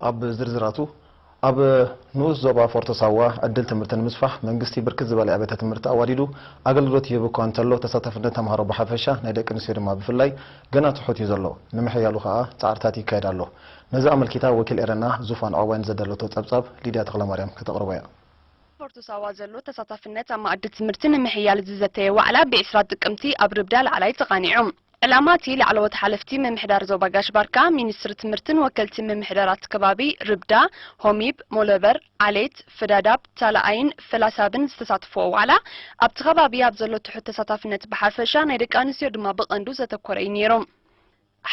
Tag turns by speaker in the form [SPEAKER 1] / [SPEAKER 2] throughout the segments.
[SPEAKER 1] ኣብ ዝርዝራቱ፣ ኣብ ንኡስ ዞባ ፎርቶ ሳዋ ዕድል ትምህርቲ ንምስፋሕ መንግስቲ ብርክት ዝበለ ኣብያተ ትምህርቲ ኣዋዲዱ ኣገልግሎት ይህብ እኳ እንተሎ ተሳታፍነት ተምሃሮ ብሓፈሻ ናይ ደቂ ኣንስትዮ ድማ ብፍላይ ገና ትሑት እዩ ዘሎ። ንምሕያሉ ከኣ ጻዕርታት ይካየድ ኣሎ። ነዚ ኣመልኪታ ወኪል ኤረና ዙፋን ዖባይ ንዘዳለቶ ጸብጻብ ሊድያ ተኽለማርያም ከተቕርቦ እያ። ኣብ ፎርቶ ሳዋ
[SPEAKER 2] ዘሎ ተሳታፍነት ኣብ መኣዲ ትምህርቲ ንምሕያል ዝዘተየ ዋዕላ ብ ዕስራ ጥቅምቲ ኣብ ርብዳ ላዕላይ ተቓኒዑ። ዕላማ እቲ ላዕለዎት ሓለፍቲ ምምሕዳር ዞባ ጋሽ ባርካ፣ ሚኒስትሪ ትምህርትን ወከልቲ ምምሕዳራት ከባቢ ርብዳ፣ ሆሚብ፣ ሞሎበር፣ ዓሌት፣ ፍዳዳብ፣ ታላኣይን ፈላሳብን ዝተሳተፍዎ ዋዕላ ኣብቲ ከባቢ ኣብ ዘሎ ትሑት ተሳታፍነት ብሓፈሻ ናይ ደቂ ኣንስትዮ ድማ ብቐንዱ ዘተኮረ እዩ ነይሩ።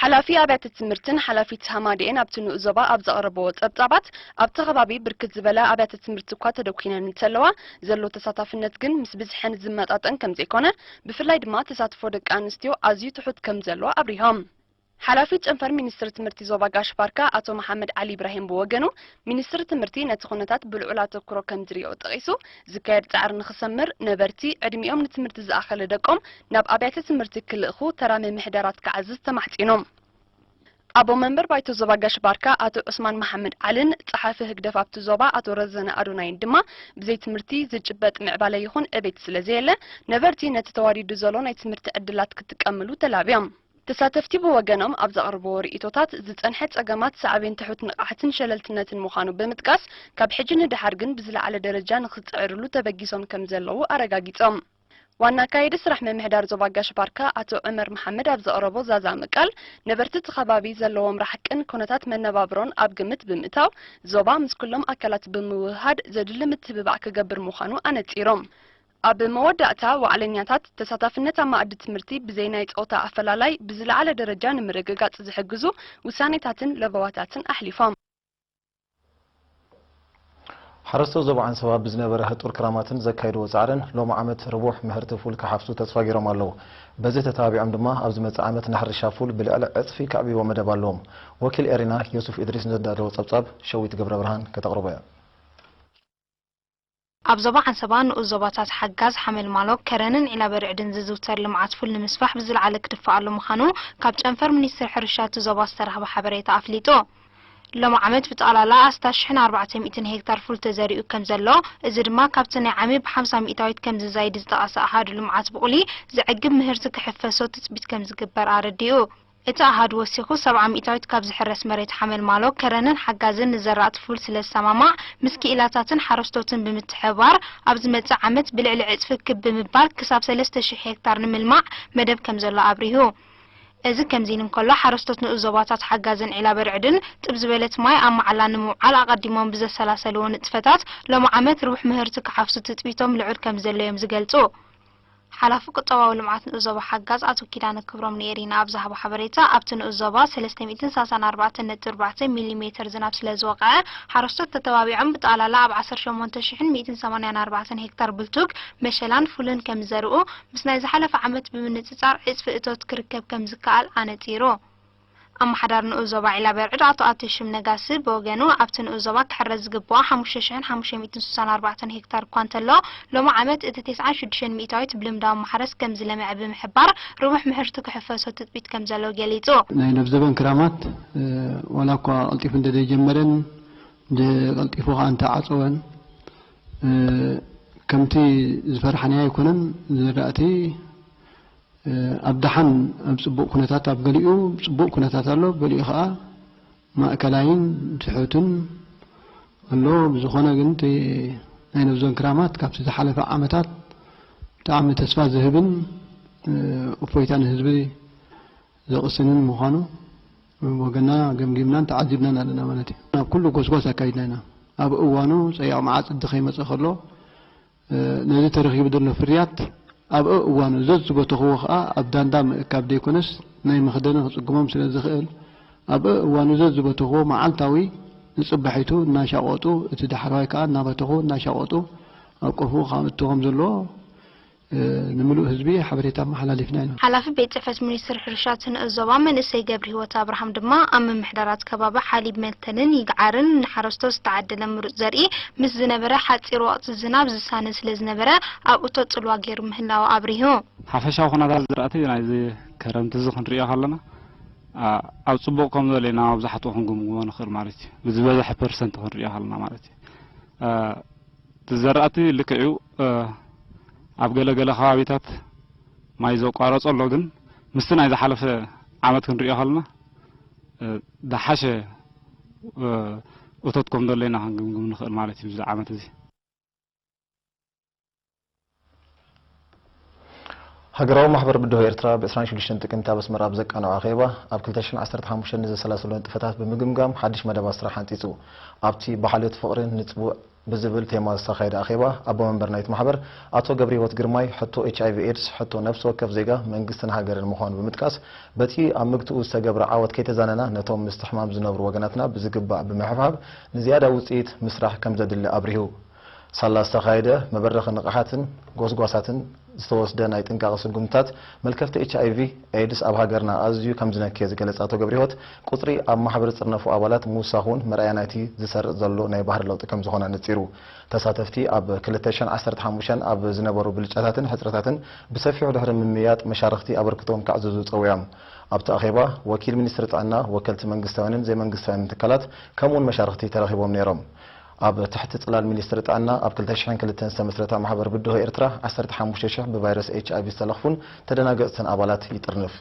[SPEAKER 2] ሓላፊ ኣብያተ ትምህርትን ሓላፊት ሃማደኤን ኣብቲ ንኡስ ዞባ ኣብ ዘቕረብዎ ጸብጻባት ኣብቲ ከባቢ ብርክት ዝበላ ኣብያተ ትምህርቲ እኳ ተደኲነን እንተለዋ ዘሎ ተሳታፍነት ግን ምስ ብዝሐን ዝመጣጠን ከምዘይኮነ ብፍላይ ድማ ተሳትፎ ደቂ ኣንስትዮ ኣዝዩ ትሑት ከምዘሎ ኣብሪሆም። ሓላፊ ጨንፈር ሚኒስትሪ ትምህርቲ ዞባ ጋሽ ባርካ ኣቶ መሓመድ ዓሊ ኢብራሂም ብወገኑ፣ ሚኒስትሪ ትምህርቲ ነቲ ኩነታት ብልዑል ኣተኩሮ ከምዝሪኦ ጠቒሱ፣ ዝካየድ ጻዕሪ ንኽሰምር ነበርቲ ዕድሚኦም ንትምህርቲ ዝኣኸለ ደቆም ናብ ኣብያተ ትምህርቲ ክልእኩ ተራ ምምሕዳራት ክዓዝዝ ተማሕጺኑ። ኣቦ መንበር ባይቶ ዞባ ጋሽ ባርካ ኣቶ ዑስማን መሓመድ ዓልን ጸሓፊ ህግደፍ ኣብቲ ዞባ ኣቶ ረዘነ ኣዶናይን ድማ ብዘይ ትምህርቲ ዝጭበጥ ምዕባለ ይኹን ዕቤት ስለዘየለ ነበርቲ ነቲ ተዋዲዱ ዘሎ ናይ ትምህርቲ ዕድላት ክጥቀምሉ ተላብዮም። ተሳተፍቲ ብወገኖም ኣብ ዘቕርብዎ ርእይቶታት ዝጸንሐ ጸገማት ሳዕቤን ትሑት ንቕሓትን ሸለልትነትን ምዃኑ ብምጥቃስ ካብ ሕጂ ንደሓር ግን ብዝለዓለ ደረጃ ንኽጽዕርሉ ተበጊሶም ከምዘለዉ ኣረጋጊጾም። ዋና ኣካየዲ ስራሕ ምምሕዳር ዞባ ጋሽ-ባርካ ኣቶ ዑመር መሓመድ ኣብ ዘቕረቦ ዛዛሚ ቃል፣ ነበርቲ እቲ ከባቢ ዘለዎም ራሕቅን ኩነታት መነባብሮን ኣብ ግምት ብምእታው፣ ዞባ ምስ ኩሎም ኣካላት ብምውህሃድ ዘድሊ ምትብባዕ ክገብር ምዃኑ ኣነጺሮም። ኣብ መወዳእታ፣ ዋዕለኛታት፣ ተሳታፍነት ኣብ መኣዲ ትምህርቲ ብዘይ ናይ ጾታ ኣፈላላይ ብዝለዓለ ደረጃ ንምርግጋጽ ዝሕግዙ ውሳኔታትን ለበዋታትን ኣሕሊፎም።
[SPEAKER 1] ሓረስቶት ዞባ ዓንሰባ ብዝነበረ ህጡር ክራማትን ዘካይድዎ ፃዕርን ሎሚ ዓመት ርቡሕ ምህርቲ ፉል ክሓፍሱ ተስፋ ገይሮም ኣለው። በዚ ተተባቢዖም ድማ ኣብ ዝመፅእ ዓመት ንሕርሻ ፉል ብልዕሊ ዕፅፊ ከዕብይዎ መደብ ኣለዎም። ወኪል ኤሪና ዮሱፍ ኢድሪስ ንዘዳለዎ ፀብፃብ ሸዊት ገብረብርሃን ከተቕርቦ እያ።
[SPEAKER 3] ኣብ ዞባ ዓንሰባ ንኡስ ዞባታት ሓጋዝ፣ ሓመልማሎ፣ ከረንን ዒላበርዕድን ዝዝውተር ልምዓት ፉል ንምስፋሕ ብዝልዓለ ክድፈኣሉ ምዃኑ ካብ ጨንፈር ሚኒስትሪ ሕርሻ እቲ ዞባ ዝተረኽበ ሓበሬታ ኣፍሊጡ። ሎሚ ዓመት ብጠቕላላ ኣስታት ሽሕን ኣርባዕተ ሚእትን ሄክታር ፉል ተዘሪኡ ከምዘሎ፣ እዚ ድማ ካብቲ ናይ ዓሚ ብሓምሳ ሚእታዊት ከምዝዛይድ ዝጠቐሰ ኣሃዱ ልምዓት ብቑሊ፣ ዘዕግብ ምህርቲ ክሕፈሶ ትፅቢት ከምዝግበር ኣረዲኡ። እቲ ኣሃዱ ወሲኹ፣ ሰብዓ ሚእታዊት ካብ ዝሕረስ መሬት ሓመልማሎ፣ ከረንን ሓጋዝን ንዘራእቲ ፉል ስለዝሰማማዕ፣ ምስ ክኢላታትን ሓረስቶትን ብምትሕብባር፣ ኣብ ዝመጽእ ዓመት ብልዕሊ ዕጽፊ ክብ ብምባል ክሳብ ሰለስተ ሽሕ ሄክታር ንምልማዕ መደብ ከምዘሎ ኣብሪሁ። እዚ ከምዚን እንከሎ፣ ሓረስቶት ንኡስ ዞባታት ሓጋዝን ዒላበርዕድን፣ ጥብ ዝበለት ማይ ኣብ መዓላ ንምውዓል ኣቐዲሞም ብዘሰላሰልዎ ንጥፈታት፣ ሎሚ ዓመት ርቡሕ ምህርቲ ክሓፍሱ ትጽቢቶም ልዑል ከምዘሎ'ዮም ዝገልጹ። ሓላፊ ቁጠባዊ ልምዓት ንኡስ ዞባ ሓጋዝ ኣቶ ኪዳነ ክብሮም ንኤሪና ኣብ ዝሃቦ ሓበሬታ፣ ኣብቲ ንኡስ ዞባ ሰለስተ ሚእትን ሳሳን ኣርባዕተን ነጥቢ ኣርባዕተ ሚሊ ሜተር ዝናብ ስለዝወቕዐ፣ ሓረስቶት ተተባቢዖም ብጠቕላላ ኣብ ዓሰርተ ሸሞንተ ሽሕን ሚእትን ሰማንያን ኣርባዕተን ሄክታር ብልቱግ፣ መሸላን ፉልን ከምዝዘርኡ፣ ምስ ናይ ዝሓለፈ ዓመት ብምንጽጻር ዕጽፊ እቶት ክርከብ ከምዝከኣል ኣነጺሩ። ኣመሓዳሪ ንኡስ ዞባ ዒላበርዕድ ኣቶ ኣተሽም ነጋሲ ብወገኑ፣ ኣብቲ ንኡስ ዞባ ክሕረስ ዝግብኦ ሓሙሽተ ሽሕን ሓሙሽተ ሚእትን ስሳን ኣርባዕተን ሄክታር እኳ እንተሎ፣ ሎሚ ዓመት እቲ ተስዓን ሽዱሽተን ሚእታዊት ብልምዳዊ ማሕረስ ከምዝለምዐ ብምሕባር፣ ርቡሕ ምህርቲ ክሕፈሶ ትጽቢት ከምዘሎ ገሊጹ። ናይ ለብዘበን
[SPEAKER 4] ክራማት ዋላ እኳ ቀልጢፉ እንተዘይጀመረን ቀልጢፉ ከኣ እንተዓጸወን ከምቲ ዝፈራሕናዮ ኣይኮነን፣ ዝራእቲ ኣብ ደሓን ኣብ ጽቡቕ ኩነታት ኣብ ገሊኡ ጽቡቕ ኩነታት ኣሎ ኣብ ገሊኡ ከኣ ማእከላይን ትሑትን ኣሎ ብዝኾነ ግን እቲ ናይ ነብዞን ክራማት ካብቲ ዝሓለፈ ዓመታት ብጣዕሚ ተስፋ ዝህብን እፎይታ ንህዝቢ ዘቕስንን ምዃኑ ወገና ገምጊምናን ተዓዚብናን ኣለና ማለት እዩ ናብ ኩሉ ጎስጓስ ኣካይድና ኢና ኣብ እዋኑ ጸያቕ መዓጽዲ ከይመጸ ከሎ ነዚ ተረኺቡ ዘሎ ፍርያት ኣብ ኣእዋኑ ዘዝበተኹዎ ከኣ ኣብ ዳንዳ ምእካብ ዘይኮነስ ናይ መኽደኒ ክጽግሞም ስለ ዝኽእል ኣብ ኣእዋኑ ዘዝበተኹዎ መዓልታዊ ንጽባሒቱ እናሻቖጡ እቲ ዳሕረዋይ ከኣ እናበተኹ እናሻቖጡ ኣብ ቆፎኡ ከእቱ ከም ዘለዎ ንምሉእ ህዝቢ ሓበሬታ ኣመሓላሊፍና ኢና። ሓላፊ ቤት ጽሕፈት
[SPEAKER 3] ሚኒስትሪ ሕርሻ ትንእስ ዞባ መንእሰይ ገብርሂወት ኣብርሃም ድማ ኣብ ምምሕዳራት ከባቢ ሓሊብ መልተንን ይግዓርን ንሓረስቶት ዝተዓደለ ምሩጽ ዘርኢ ምስ ዝነበረ ሓጺር ወቕቲ ዝናብ ዝሳነ ስለ ዝነበረ ኣብ እቶት ጽልዋ ገይሩ ምህላዉ ኣብሪሁ። ሓፈሻዊ
[SPEAKER 5] ኩነታት ዝራእቲ ናይዚ ክረምቲ'ዚ ክንርእዮ ከለና ኣብ ጽቡቕ ከም ዘሎ ኢና መብዛሕትኡ ክንግምግሞ ንኽእል ማለት እዩ። ብዝበዝሐ ፐርሰንት ክንርእዮ ከለና ማለት እዩ። እቲ ዘራእቲ ልክዕ'ዩ ኣብ ገለ ገለ ከባቢታት ማይ ዘቋረጾ ኣሎ ግን ምስቲ ናይ ዝሓለፈ ዓመት ክንርእዮ ከለና ዝሓሸ እቶት ከም ዘሎ ኢና ክንግምግም ንኽእል ማለት እዩ እዚ ዓመት እዚ።
[SPEAKER 1] ሃገራዊ ማሕበር ብድሆ ኤርትራ ብ ዕስራን ሽዱሽተን ጥቅምቲ ኣብ ኣስመራ ኣብ ዘቃንዖ ኣኼባ ኣብ ክልተ ሽሕን ዓሰርተ ሓሙሽተን ንዘሰላሰሎ ንጥፈታት ብምግምጋም ሓድሽ መደባት ስራሕ ሓንጺጹ ኣብቲ ብሓልዮት ፍቕሪን ንጽቡቕ ብዝብል ቴማ ዝተኻየደ ኣኼባ ኣቦ መንበር ናይቲ ማሕበር ኣቶ ገብርሂወት ግርማይ ሕቶ ኤች ኣይቪ ኤድስ ሕቶ ነብሲ ወከፍ ዜጋ መንግስትን ሃገርን ምዃኑ ብምጥቃስ በቲ ኣብ ምግትኡ ዝተገብረ ዓወት ከይተዛነና ነቶም ምስቲ ሕማም ዝነብሩ ወገናትና ብዝግባእ ብምሕብሓብ ንዝያዳ ውፅኢት ምስራሕ ከምዘድሊ ኣብሪሁ። ሳላ ዝተኻየደ መበረኺ ንቕሓትን ጎስጓሳትን፣ ዝተወስደ ናይ ጥንቃቐ ስጉምትታት መልከፍቲ ኤች ኣይቪ ኤድስ ኣብ ሃገርና ኣዝዩ ከምዝነከየ ዝገለጸ ኣቶ ገብሪሂወት፣ ቁጽሪ ኣብ ማሕበር ዝጥርነፉ ኣባላት ምውሳኹ'ውን መርኣያ ናይቲ ዝሰርጽ ዘሎ ናይ ባህሪ ለውጢ ከምዝኾነ ኣነጺሩ። ተሳተፍቲ ኣብ ክልተ ሽሕን ዓሰርተ ሓሙሽተን ኣብ ዝነበሩ ብልጫታትን ሕጽረታትን ብሰፊሑ ድሕሪ ምምይያጥ መሻርኽቲ ኣበርክቶኦም ከዕዝዙ ጸዊዖም። ኣብቲ ኣኼባ ወኪል ሚኒስትሪ ጥዕና፣ ወከልቲ መንግስታውያንን ዘይመንግስታውያንን ትካላት ከምኡ'ውን መሻርኽቲ ተረኺቦም ነይሮም። ኣብ ትሕቲ ጽላል ሚኒስትሪ ጥዕና ኣብ ክልተ ሽሕን ክልተን ዝተመስረታ ማሕበር ብድሆ ኤርትራ፣ ዓሰርተ ሓሙሽተ ሽሕ ብቫይረስ ኤችኣይቪ ዝተለኽፉን ተደናገጽትን ኣባላት ይጥርንፍ።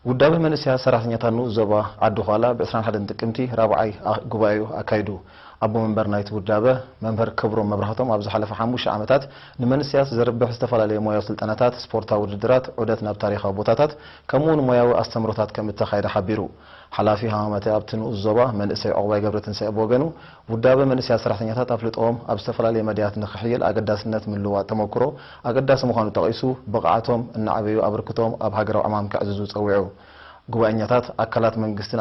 [SPEAKER 1] ውዳበ መንእሰያት ሰራሕተኛታት ንኡስ ዞባ ዓዲ-ዃላ ብ ዕስራን ሓደን ጥቅምቲ ራብዓይ ጉባኤኡ ኣካይዱ። ኣቦ መንበር ናይቲ ውዳበ መምህር ክብሮም መብራህቶም ኣብ ዝሓለፈ ሓሙሽተ ዓመታት ንመንእሰያት ዘርብሕ ዝተፈላለየ ሞያዊ ስልጠናታት፣ ስፖርታዊ ውድድራት፣ ዑደት ናብ ታሪኻዊ ቦታታት ከምኡ'ውን ሞያዊ ኣስተምህሮታት ከም እተኻየደ ሓቢሩ። ሓላፊ ሃማመተ ኣብቲ ንኡስ ዞባ መንእሰይ ዑቕባይ ገብረትንሳኤ ብወገኑ፣ ውዳበ መንእሰያት ሰራሕተኛታት ኣፍልጦኦም ኣብ ዝተፈላለየ መዳያት ንኽሕይል ኣገዳስነት ምልውዋጥ ተመኩሮ ኣገዳሲ ምዃኑ ጠቒሱ፣ ብቕዓቶም እናዕበዩ ኣበርክቶኦም ኣብ ሃገራዊ ዕማም ከዕዝዙ ጸዊዑ። ጉባኤኛታት፣ ኣካላት መንግስቲ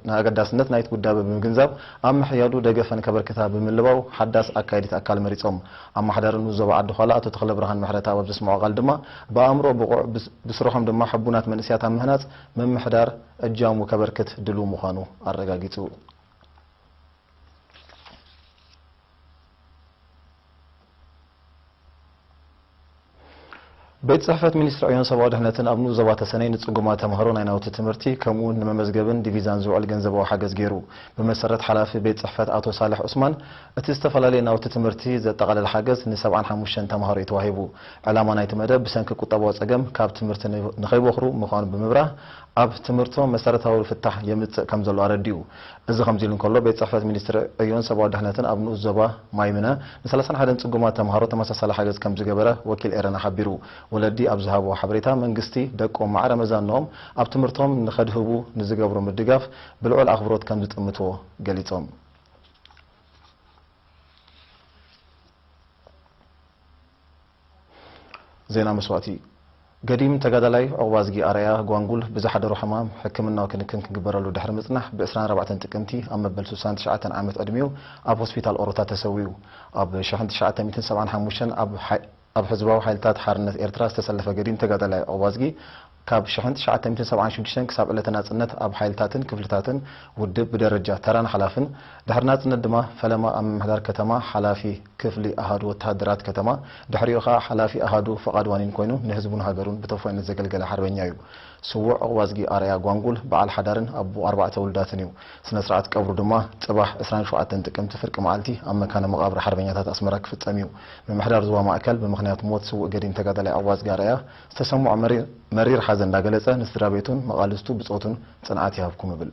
[SPEAKER 1] ንኣገዳስነት ናይ'ቲ ውዳበ ብምግንዛብ፣ ኣብ ምሕያዱ ደገፈን ከበርክታ ብምልባው፣ ሓዳስ ኣካየዲት ኣካል መሪጾም። ኣማሓዳሪ ንኡስ ዞባ ዓዲ-ዃላ ኣቶ ተኽለብርሃን ምሕረትኣብ ኣብ ዘስምዖ ቃል ድማ፣ ብኣእምሮ ብቑዕ፣ ብስርሖም ድማ ሕቡናት መንእሰያት ኣብ ምህናጽ ምምሕዳር እጃሙ ከበርክት ድሉው ምዃኑ ኣረጋጊጹ። ቤት ፅሕፈት ሚኒስትሪ ዕዮን ሰብኣዊ ድሕነትን ኣብ ንኡስ ዞባ ተሰነይ ንፅጉማት ተምሃሮ ናይ ናውቲ ትምህርቲ ከምኡ እውን ንመመዝገብን ዲቪዛን ዝውዕል ገንዘባዊ ሓገዝ ገይሩ። ብመሰረት ሓላፊ ቤት ፅሕፈት ኣቶ ሳልሕ ዑስማን እቲ ዝተፈላለየ ናውቲ ትምህርቲ ዘጠቓለለ ሓገዝ ን ሰብዓን ሓሙሽተን ተምሃሮ እዩ ተዋሂቡ። ዕላማ ናይቲ መደብ ብሰንኪ ቁጠባዊ ፀገም ካብ ትምህርቲ ንከይቦኽሩ ምዃኑ ብምብራህ ኣብ ትምህርቶም መሰረታዊ ፍታሕ የምጽእ ከምዘሎ ኣረዲኡ። እዚ ከምዚሉ እንከሎ፣ ቤት ጽሕፈት ሚኒስትሪ ዕዮን ሰብኣዊ ድሕነትን ኣብ ንኡስ ዞባ ማይምነ ንሰላሳን ሓደን ጽጉማት ተምሃሮ ተመሳሳሊ ሓገዝ ከምዝገበረ ወኪል ኤረና ሓቢሩ። ወለዲ ኣብ ዝሃብዎ ሓበሬታ፣ መንግስቲ ደቆም ማዕረ መዛንኦም ኣብ ትምህርቶም ንከድህቡ ንዝገብሮ ምድጋፍ ብልዑል ኣኽብሮት ከምዝጥምቶ ገሊጾም። ዜና መስዋእቲ ገዲም ተጋዳላይ ዑቕባዝጊ ኣርኣያ፣ ጓንጉል፣ ብዝሓደሮ ሕማም ሕክምናዊ ክንክን ክግበረሉ ድሕሪ ምጽናሕ ብ ዕስራን ኣርባዕተን ጥቅምቲ ኣብ መበል ስሳን ትሽዓተን ዓመት ዕድሜኡ ኣብ ሆስፒታል ኦሮታ ተሰዊኡ። ኣብ ሽሕን ትሽዓተ ሚእትን ሰብዓን ሓሙሽተን ኣብ ኣብ ሕዝባዊ ሓይልታት ሓርነት ኤርትራ ዝተሰለፈ ገዲም ተጋዳላይ ዑቕባዝጊ፣ ካብ ሽሕን ትሽዓተ ሚእትን ሰብዓን ሽዱሽተን ክሳብ ዕለተ ናጽነት ኣብ ሓይልታትን ክፍልታትን ውድብ ብደረጃ ተራን ሓላፍን፣ ድሕሪ ናጽነት ድማ ፈለማ ኣብ ምምሕዳር ከተማ ሓላፊ ክፍሊ ኣሃዱ ወተሃደራት ከተማ ድሕሪኡ ከኣ ሓላፊ ኣሃዱ ፍቓድ ዋኒን ኮይኑ ንህዝቡን ሃገሩን ብተውፋይነት ዘገልገለ ሓርበኛ'ዩ ስዉእ ዑቕባዝጊ ኣርኣያ ጓንጉል በዓል ሓዳርን ኣቦ ኣርባዕተ ውሉዳትን'ዩ። ስነ-ስርዓት ቀብሩ ድማ ጽባሕ ዕስራን ሸውዓተን ጥቅምቲ ፍርቂ መዓልቲ ኣብ መካነ መቓብር ሓርበኛታት ኣስመራ ክፍጸም'ዩ። ምምሕዳር ዞባ ማእከል ብምኽንያት ሞት ስዉእ ገዲም ተጋዳላይ ዑቕባዝጊ ኣርኣያ፣ ዝተሰምዖ መሪር ሓዘን እንዳገለጸ ንስድራቤቱን መቓልስቱ ብጾቱን ጽንዓት ይሃብኩም እብል።